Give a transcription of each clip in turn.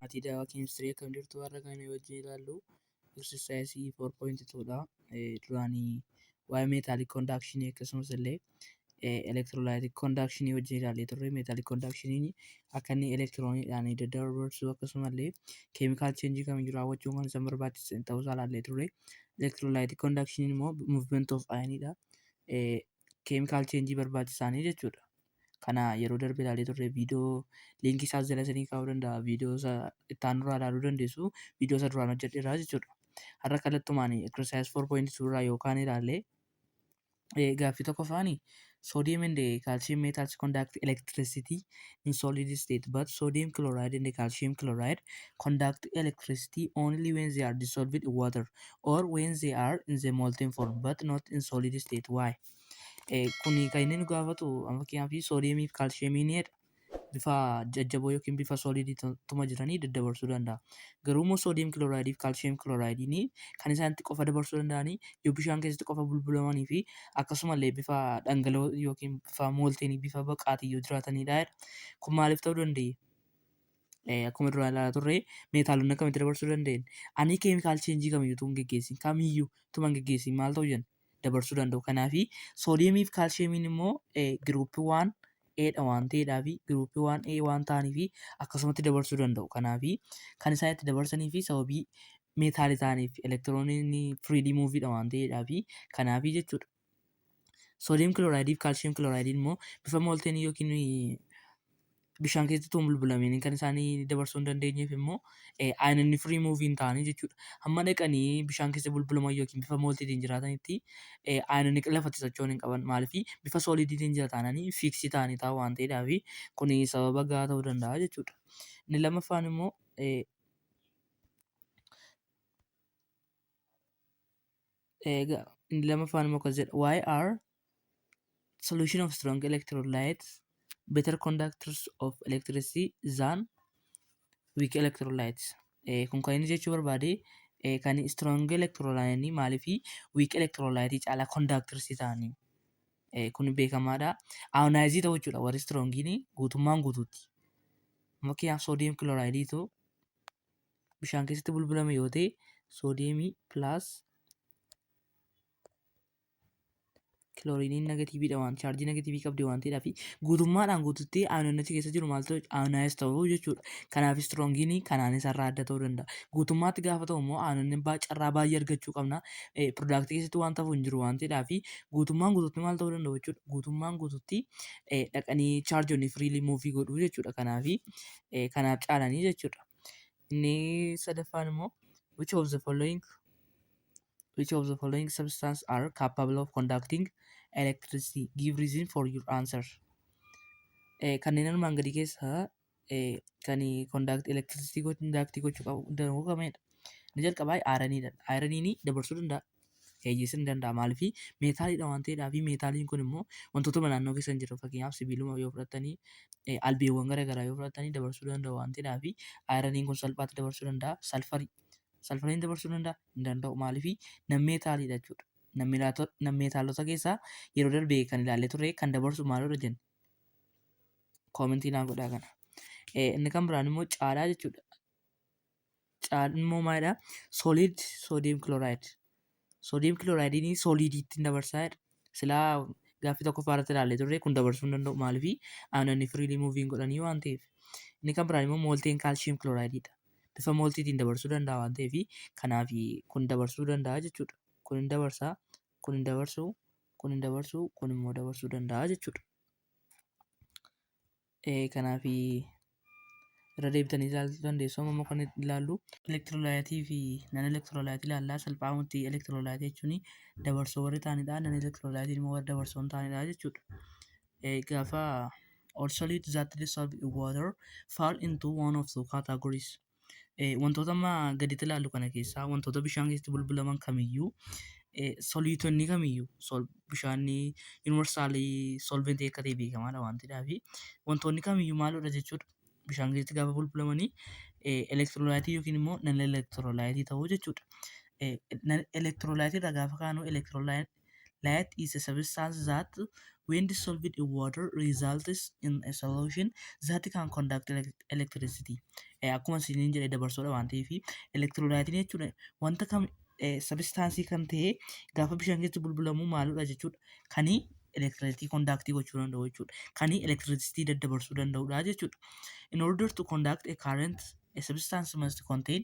Maatii daawaa keemistirii akkam jirtu warra kan wajjin ilaallu exercise 4.2 dha. Duraanii waa'ee meetaalik kondaakshini akkasumas illee elektiroolaayitik kondaakshini wajjin ilaallee turre meetaalik kondaakshiniin akka inni elektirooniidhaan daddabarsu akkasuma illee keemikaal cheenjii kamiyyuu raawwachuun kan isaan barbaachisan ta'uu isaa ilaallee turre. elektiroolaayitii kondaakshiniin immoo muuvimenti of ayiniidha. Keemikaal cheenjii barbaachisaanii jechuudha. Kana yeroo darbe ilaalee turre viidiyoo liinkii isaas jala isinii kaa'uu danda'a. Viidiyoo isa itti aanu irraa ilaaluu dandeessu. Viidiyoo isa duraan hojjedhe irraa jechuudha. Har'a kallattumaan exercise 4.2 irraa yookaan ilaalle eh, gaaffii tokko faani sodium and eh, calcium metals conduct electricity in solid state but sodium chloride and calcium chloride conduct electricity only when they are dissolved in water or when they are in the molten form but not in solid state why eh, kuni kan inni nu gaafatu amma fakkeenyaaf sodium fi calcium ni jedha bifa jajjaboo yookiin bifa soolidii tuma jiranii daddabarsuu danda'a. Garuu immoo soodiyem kilooraayidii fi kaalsiyem kilooraayidii ni kan isaan itti qofa dabarsuu danda'anii yoo bishaan keessatti qofa bulbulamanii fi akkasumallee bifa dhangala'oo yookiin bifa moolteenii bifa baqaatiin yoo jiraatanidha. Kun maaliif ta'uu danda'e? Akkuma duraan ilaalaa turre meetaalonni akkamitti dabarsuu danda'een? Ani keemikaal cheenjii kamiyyuu tun geggeessin kamiyyuu tuman geggeessin maal ta'u jenna? dabarsuu danda'u. Kanaaf soodiyemii fi kaalsiyemiin immoo giruuppii waan eedha waan ta'eedhaa fi giruuppii waan ee waan ta'anii fi akkasumatti dabarsuu danda'u. Kanaaf kan isaan itti dabarsanii fi sababii meetaalii ta'aniif elektirooniin firiidii muuviidha waan ta'eedhaa fi kanaaf jechuudha. Soodiyem kilooraayidii fi kaalsiyem kilooraayidiin immoo bifa moolteenii yookiin bishaan keessatti utuu hin bulbulamiin kan isaanii dabarsuu hin dandeenyeef immoo aananni firii muuvii hin taane jechuudha. Hamma dhaqanii bishaan keessa bulbulaman yookiin bifa mooltiitiin jiraatanitti aananni lafatti socho'uu hin qaban maaliif bifa sooliidiitiin jira taananii fiiksii ta'anii taa'u waan ta'eedhaaf kun sababa gahaa ta'uu danda'a jechuudha. Inni lammaffaan immoo inni lammaffaan immoo akkas jedha YR solution of strong electrolytes better conductors of electricity than weak electrolytes Eh, kun kan inni jechuu barbaade eh, kan strong electrolyte maalii fi weak electrolyte caalaa conductors ta'anii Eh, kun beekamaadha ayonaayizii ta'uu jechuudha warri strongiin guutummaan guutuutti fakkeenyaaf soodiyem kilooraayidii ta'u bishaan keessatti bulbulame yoo ta'e soodiyemii pilaas kilooriiniin negatiiviidha waan chaarjii negatiivii qabdi waan ta'eedhaa fi guutummaadhaan guututti aayinoonichi keessa jiru maal ta'u aayinaayiz ta'u jechuudha. Kanaaf istiroogiin kanaan isarraa adda ta'uu danda'a. Guutummaatti gaafa ta'u immoo aayinoonni baa carraa baay'ee argachuu qabna. Piroodaaktii keessatti waan ta'u hin jiru waan ta'eedhaa fi guutummaan guututti maal ta'uu danda'u jechuudha. Guutummaan guututti dhaqanii chaarjoonni firiilii muuvii godhu jechuudha. Kanaaf kanaaf caalanii jechuudha. Inni sadaffaan immoo which of the following Which of the following substances are capable of conducting electricity? Give reason for your answer. Eh, kanneen armaan gadii keessaa eh, kan conduct electricity go- conduct gochuu qabu danda'u kamidha? Inni jalqabaa ayiraniidha. Ayiraniin dabarsuu danda'a. Eeyyesuu ni danda'a. Maaliif meetaaliidha waan ta'eedhaa fi meetaaliin kun immoo wantootuma naannoo keessa hin jiran fakkeenyaaf sibiiluma yoo fudhattanii eh, albeewwan garaagaraa yoo fudhattanii dabarsuu danda'u waan ta'eedhaa fi ayiraniin kun salphaatti dabarsuu danda'a. Salfarii Salphanee dabarsuu danda'a? Hin danda'u. Maaliif? Nammeetaaliidha jechuudha. Nammeetaalota keessaa yeroo darbe kan ilaallee turre kan dabarsu maalirra jenna? Koomentii naan godhaa kana. Inni kan biraan immoo caalaa jechuudha. Caalaan immoo maalidha? Solid sodium chloride. Soodiyem kilooraayidinii sooliidiitti hin dabarsaa jedha. Silaa gaaffii tokkoffaa irratti ilaallee turre kun dabarsuu hin danda'u maaliifi aanonni firiilii muuviin godhanii waan ta'eef. Inni kan biraan immoo moolteen kaalshiyeem kilooraayididha. Bifa mooltiitiin dabarsuu danda'a waan ta'eef kanaaf kun dabarsuu danda'a jechuudha. Kun hin dabarsaa, kun hin dabarsuu, kun hin dabarsuu, kun immoo dabarsuu danda'a jechuudha. Kanaaf irra deebitanii ilaaluu dandeessu. Amma immoo kan ilaallu elektiroolaayitii fi nan elektiroolaayitii ilaalla. Salphaamatti elektiroolaayitii jechuun dabarsoo warri ta'anidha. Nan elektiroolaayitiin immoo warra dabarsoo hin taanedha jechuudha. Gaafa all solute that dissolve in water fall into one of two categories. Wantoota amma gaditti ilaallu kana keessaa wantoota bishaan keessatti bulbulaman kamiyyuu soliitonni kamiyyuu bishaan yuunivarsaalii solventii akka ta'e beekamaadha waan ta'eef wantoonni kamiyyuu maalidha jechuudha bishaan keessatti gaafa bulbulamanii elektiroolaayitii yookiin immoo nal elektiroolaayitii ta'uu jechuudha. Elektiroolaayitii irraa gaafa kaanu elektiroolaayitii Light is a substance that when dissolved in water results in a solution that can conduct elec- electricity. Eh, Akkuma isiniin jedhe dabarsoodha waan ta'eef elektiroolaayitiin jechuudha wanta kam sabistaansii kan ta'e gaafa bishaan keessa bulbulamu maaludha jechuudha kani elektirisitii kondaaktii gochuu danda'u jechuudha kani elektirisitii daddabarsuu danda'udha jechuudha. In order to conduct a current a substance must contain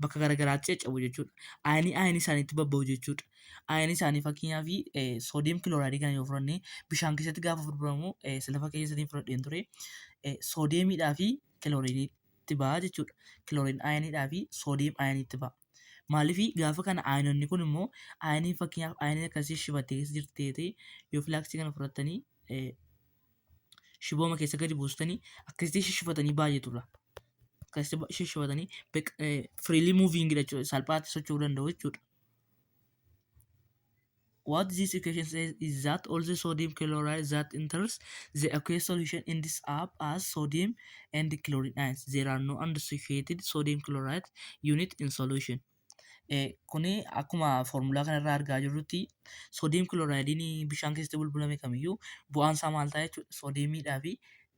bakka garagaraatti caccabu jechuudha. Ayinii ayinii isaaniitti babba'u jechuudha. Ayinii isaanii fakkeenyaaf soodiyem kilooraayidii kana yoo fudhanne bishaan keessatti gaafa fudhuramu sila fakkeenya saniin fudhadheen ture soodiyemiidhaa fi kilooriiniitti ba'a jechuudha. Kilooriin ayiniidhaa fi soodiyem ayiniitti ba'a. Maaliif gaafa kana ayinonni kun immoo ayinii fakkeenyaaf ayinii akkasii shibattee keessa jirti ta'ee yoo filaaksii kana fudhattanii shibooma keessa gadi buustanii akkasitti shishifatanii baay'eetu irraa akkasitti shishifatanii freely moving jechuudha salphaatti socho'uu danda'u jechuudha. What this equation says is that all the sodium chloride that enters the aqueous solution ends up as sodium and chlorine ions. There are no unsaturated sodium chloride unit in solution. Kuni akkuma foormulaa kanarraa argaa jirrutti soodiyeem kiloraayidiin bishaan keessatti bulbulame kamiyyuu bu'aan isaa maal ta'a jechuudha? Soodiyeemiidhaa fi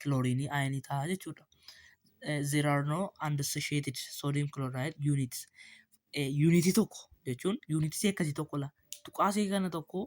kilooriinii ayinii ta'a jechuudha. There are no unassociated sodium chloride units. Yuunitii tokko jechuun yuunitii C akkasii tokko laa tuqaa C kana tokko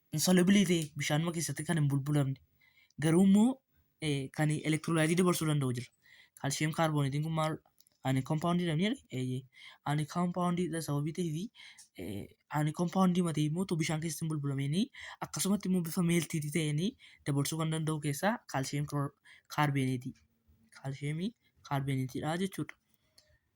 insolubilii ta'e bishaanuma keessatti kan hin bulbulamne garuu immoo kan elektiroolaayitii dabarsuu danda'u jira. Kaalshiyeem kaarbooneetiin kun maal ani kompaawundii dha jedhe eeyyee ani kompaawundii dha sababii ta'ee fi ani kompaawundii matee immoo utuu bishaan keessatti hin bulbulameenii akkasumatti immoo bifa meeltiitii ta'eenii dabarsuu kan danda'u keessaa kaalshiyeem kaarbooneetii kaalshiyeemii kaarbooneetiidha jechuudha.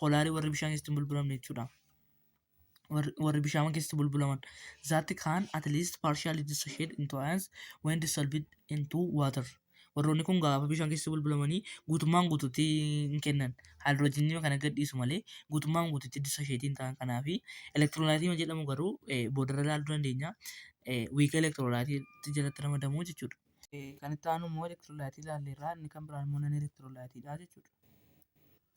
poolaarii warri bishaan keessatti hin bulbulamne jechuudha. Warri warri bishaan keessatti bulbulaman. That can at least partially dissociate into ions when dissolved into water. Warroonni kun gaafa bishaan keessatti bulbulamanii guutummaan guututti hin kennan. Haayidroojiinii kana gadhiisu malee guutummaan guututti dissociate hin ta'an kanaafi. Elektiroolaatii jedhamu garuu eh, boodarra ilaaluu dandeenya. Eh, wiika elektiroolaatii jalatti ramadamu jechuudha. Eh, kan itti aanu immoo elektiroolaatii ilaalleerraa inni kan biraan immoo nan elektiroolaatiidha jechuudha.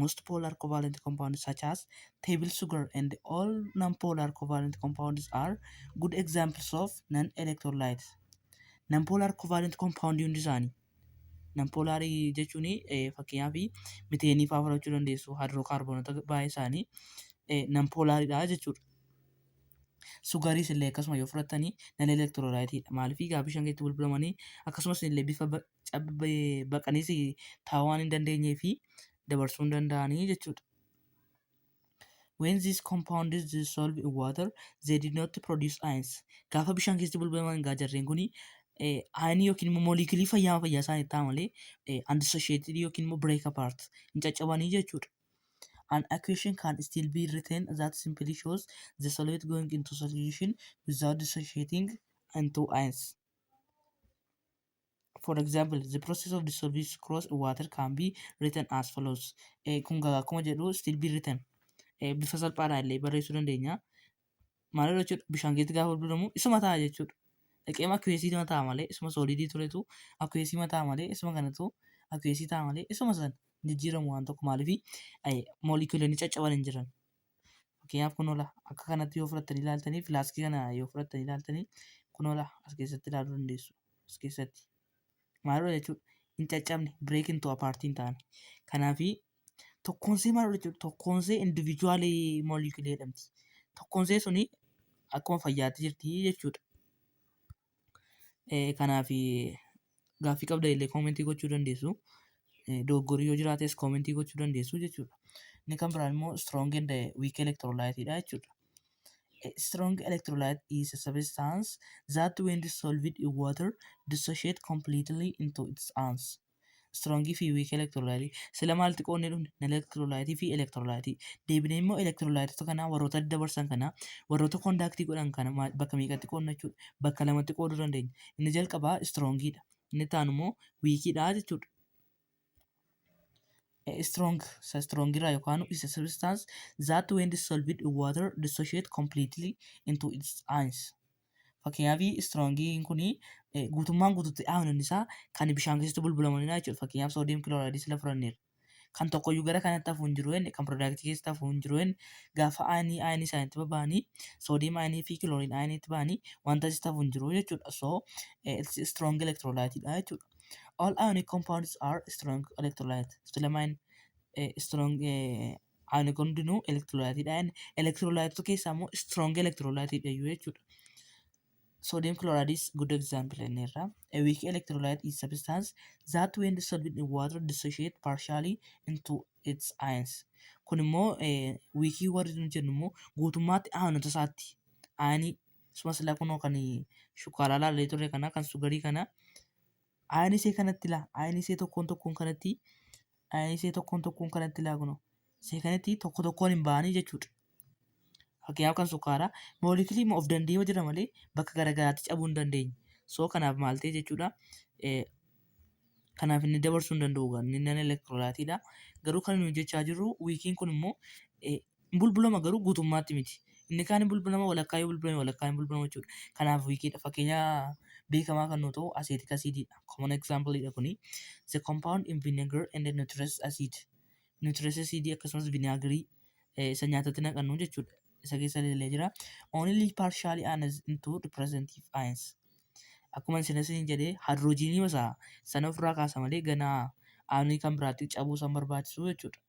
Most polar covalent compounds such as table sugar and all non-polar covalent compounds are good examples of non-electrolytes. Non-polar covalent compound hundi isaanii. Non-polar jechuun fakkeenyaaf miteenii fa'aa fudhachuu dandeessu hidrookaarboonota baay'ee isaanii non-polaridha jechuudha. Sugariis illee akkasuma yoo fudhattanii non-electrolyte maaliif egaa bishaan keessatti bulbulamanii akkasumas illee bifa baqaniis taa'uu waan hin dandeenyee fi dabarsuu hin danda'anii jechuudha. When these compounds dissolve in water, they did not produce ions. Gaafa bishaan keessatti bulbulaman egaa jarreen kun ayinii yookiin immoo mooliikilii fayyaa fayyaa isaanii ta'a malee undissociated yookiin immoo break apart hin caccabanii jechuudha. An equation can still be written that simply shows the solute going into solution without dissociating into ions. For example, the process of dissolving sucrose in water can be written as follows. Eh, kun gaa akkuma jedhu still be written. Eh, bifa salphaadhaan illee barreessuu dandeenya. Maal jechuudha? Bishaan keessatti gaafa bulbulamu isuma ta'a jechuudha. Dhaqeema akkuweesii nama ta'a malee isuma soolidii turetu akkuweesii ma ta'a malee isuma kanatu akkuweesii ta'a malee isuma san jijjiiramu waan tokko maaliifi moolikuulonni caccaban hin jiran. Fakkeenyaaf kun oola akka kanatti yoo fudhattanii ilaaltanii filaaskii kana yoo fudhattanii ilaaltanii kun oola as keessatti ilaaluu dandeessu. As keessatti maal oola jechuudha hin caccabne bireek hin to'a paartiin ta'ani. Kanaafi tokkoonsee maal oola jechuudha tokkoonsee indivijuwaalii moolikulee jedhamti. Tokkoonsee suni akkuma fayyaatti jirti jechuudha. Eh, Kanaaf eh, gaaffii qabda illee koomentii gochuu dandeessu. Eh, Dogoggorri yoo jiraates koomentii gochuu dandeessu jechuudha. Inni kan biraan immoo strong and eh, weak electrolyte dha jechuudha. A strong electrolyte is a substance that when dissolved in water dissociate completely into its ions. Strong fi weak electrolyte. Sila maal xiqqoonni dhumne? Electrolyte fi electrolyte. Deebinee immoo electrolytota kanaa warroota adda barsan kanaa warroota conductii godhan kana maal- bakka meeqatti qoodna jechuudha? Bakka lamatti qooduu dandeenya. Inni jalqabaa strong dha. Inni itti aanu immoo weak dha jechuudha. Eh, strong isa strong irraa yookaan isa substance that when dissolved in water dissociate completely into its ions. Fakkeenyaaf istroongiin kun guutummaan guututti aayoniin isaa kan bishaan keessatti bulbulamanidha jechuudha. Fakkeenyaaf soodiyem kilooraayidii sila fudhanneerra. Kan tokkoyyuu gara kanatti hafuu hin jiru inni kan piroodaaktii keessatti hafuu hin jiru inni gaafa aayinii aayinii isaaniitti baba'anii soodiyem aayinii fi kilooriin aayiniitti ba'anii wanta asitti hafuu hin jiru jechuudha. So eh, it's a strong electrolyte dha jechuudha. All ionic compounds are strong electrolyte. Still amine eh, strong eh, Ani kun hundinuu elektiroolaayitiidha. Elektiroolaayitota keessaa immoo strong elektiroolaayitiidha jechuudha. Sodium chloride is good example jenneerra. A weak electrolyte is substance that when dissolved in water dissociate partially into its ions. Kun immoo wiikii warri nu jennu immoo guutummaatti aanota isaatti aanii suma silaa kunoo kan shukkaaraa laallee turre kana kan sugarii kana Ayinisee kanatti laa ayinisee tokkoon tokkoon kanatti ayinisee tokkoon tokkoon kanatti laa kunoo seekanitti tokko tokkoon hin ba'anii jechuudha. Fakkeenyaaf kan sukkaaraa moolekilii of danda'ee yoo jira malee bakka garaagaraatti cabuu hin dandeenye. Soo kanaaf maal ta'e jechuudha. Eh, Kanaaf inni dabarsuu hin danda'u inni nan elektiroolaatiidha. Garuu kan nuyi jechaa jirru wiikiin kun immoo eh, Hin bulbulama garuu guutummaatti miti. Inni kaan hin bulbulama walakkaa yoo bulbulame walakkaa hin bulbulamu jechuudha. Kanaaf wiikiidha. Fakkeenya beekamaa kan nuu ta'u acetic acid dha. Common example dha kuni. The compound in vinegar and nitrous acid. Nitrous acid akkasumas vinaagirii eh, isa nyaatatti naqannu jechuudha. Isa keessa illee jira. Only partially annexed into representative ions. Akkuma isin isin jedhee hidroojiinii isaa sana ofirraa kaasa malee ganaa aanuun kan biraatti cabuu san barbaachisu jechuudha.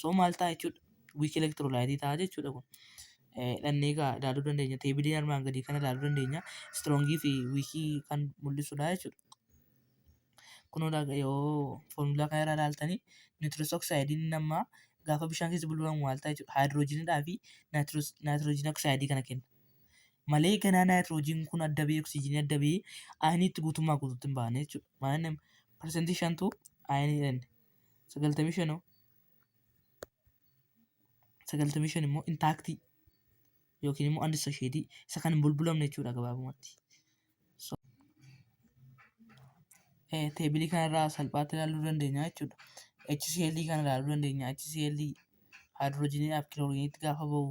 So maal ta'a jechuudha? Wiikii elektiroolaayitii ta'a jechuudha kun. Dhannee egaa ilaaluu dandeenya. Teebilii armaan gadii kana ilaaluu dandeenya. Istroongii fi wiikii kan mul'isudha jechuudha. Kunoo laga- yoo foormulaa kana irraa ilaaltanii nitrous oxide nama gaafa bishaan keessa bulbulamu maal ta'a jechuudha? Haayidiroojiinidhaa fi naayitiroojiin oxide kana kenna. Malee ganaa naayitiroojiin kun adda ba'ee oksijiinii adda ba'ee ayinii itti guutummaa guutuutti hin baane jechuudha. Maaliin parsantii shantu ayinii dhanne. sagaltamii shan hoo sagaltamii shan immoo intaaktii yookiin immoo andi sasheetii isa kan hin bulbulamne jechuudha gabaabumatti. So, eh, teebilii kanarraa salphaatti ilaaluu dandeenya jechuudha. HCl kana ilaaluu dandeenya. HCl haayidroojiniidhaaf kilooriiniitti gaafa bahu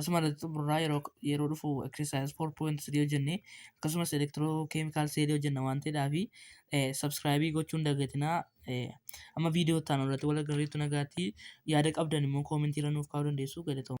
Asuma irratti xumurraa yeroo yeroo dhufu exercise 4.3 hojjennee akkasumas electrochemical cell hojjenna waan ta'eedhaa fi subscribe gochuun dagatinaa amma viidiyoo itti aanu irratti wal agarreetti nagaatti yaada qabdan immoo koomentii irra nuuf kaa'uu dandeessu galatooma.